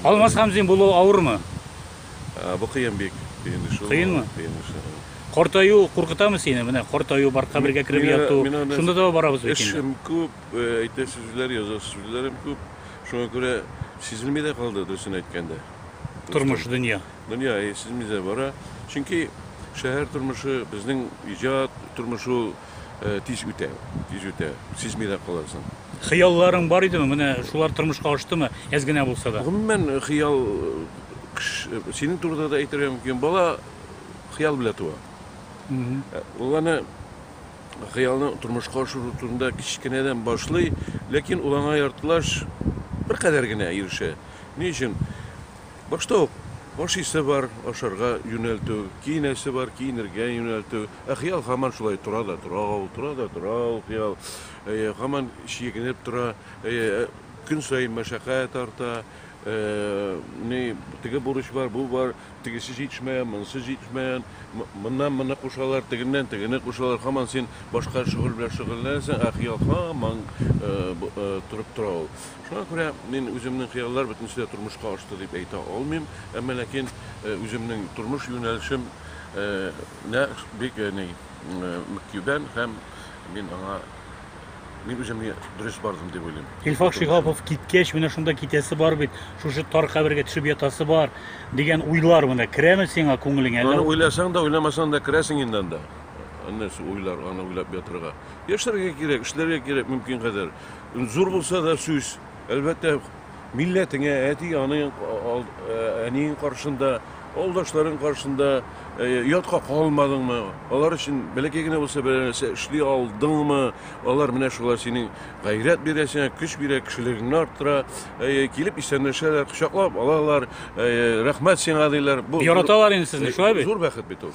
Алмаз Хамзин булу авырмы? Ә, Бу кыен бик. Кыен эш ул. Кыенмы? Кыен эш. ул. Картаю куркытамы сине? Менә картаю бар, кабергә кереп Мин аны- яту. мин аны- Шунда да барабыз бит инде. Эшем күп, э, әйтер сүзләр, язар сүзләрем күп. Шуңа күрә сизелми дә калды, дөресен әйткәндә. Тормыш, дөнья. Дөнья э, сизелми дә бара. Чөнки шәһәр тормышы, безнең иҗат тормышы ул тиз үтә, тиз үтә, сизми дә каласың. Хыялларың бар идеме? Менә шулар тормышка аштымы? Әз генә булса да. Гомумән, хыял синең турыда да әйтергә мөмкин. Бала хыял белән туа. Ул аны хыялны тормышка ашыру турында кечкенәдән башлый, ләкин ул аңа яртылаш беркадәр генә ирешә. Ни өчен? Башта ук ашыйсы бар, ашарга юнәлтү, киенәсе бар, киенергә юнәлтү. Ә хыял һаман шулай тора да тора ул, тора да тора ул хыял. Әйе, һаман чигенеп тора. Әйе, көн саен мәшәкать арта. Ни, теге бурыч бар, бу бар, тегесе җитешмәгән, монысы җитешмәгән, моннан моны кушалар, тегеннән тегене кушалар. Һаман син башка шөгыль белән шөгыльләнәсең, ә хыял һаман торып тора ул. Шуңа күрә мин үземнең хыяллар бөтенесе дә тормышка ашты дип әйтә алмыйм, әмма ләкин үземнең тормыш юнәлешем нә бик ни мөкибән һәм мин аңа мин үземне дөрес бардым дип уйлыйм. Илфак Шиһапов киткәч, менә шунда китәсе бар бит, шушы тар кабергә төшеп ятасы бар, дигән уйлар менә керәме сиңа күңелеңә? Аны уйласаң да, уйламасаң да керәсең инде анда. Нәрсә уйлар, аны уйлап ятырга. Яшәргә кирәк, эшләргә кирәк мөмкин кадәр. Зур булса да сүз, әлбәттә, милләтеңә, әти-аның, әниең каршында, авылдашларың каршында ятка калмадыңмы, алар өчен бәләкәй генә булса бер нәрсә эшли алдыңмы, алар менә шулай синең гайрәт бирә сиңа, көч бирә, кешелегеңне арттыра, килеп исәнләшәләр, кочаклап алалар, рәхмәт сиңа диләр. Бу яраталар инде сезне, шулай бит? Зур бәхет бит ул.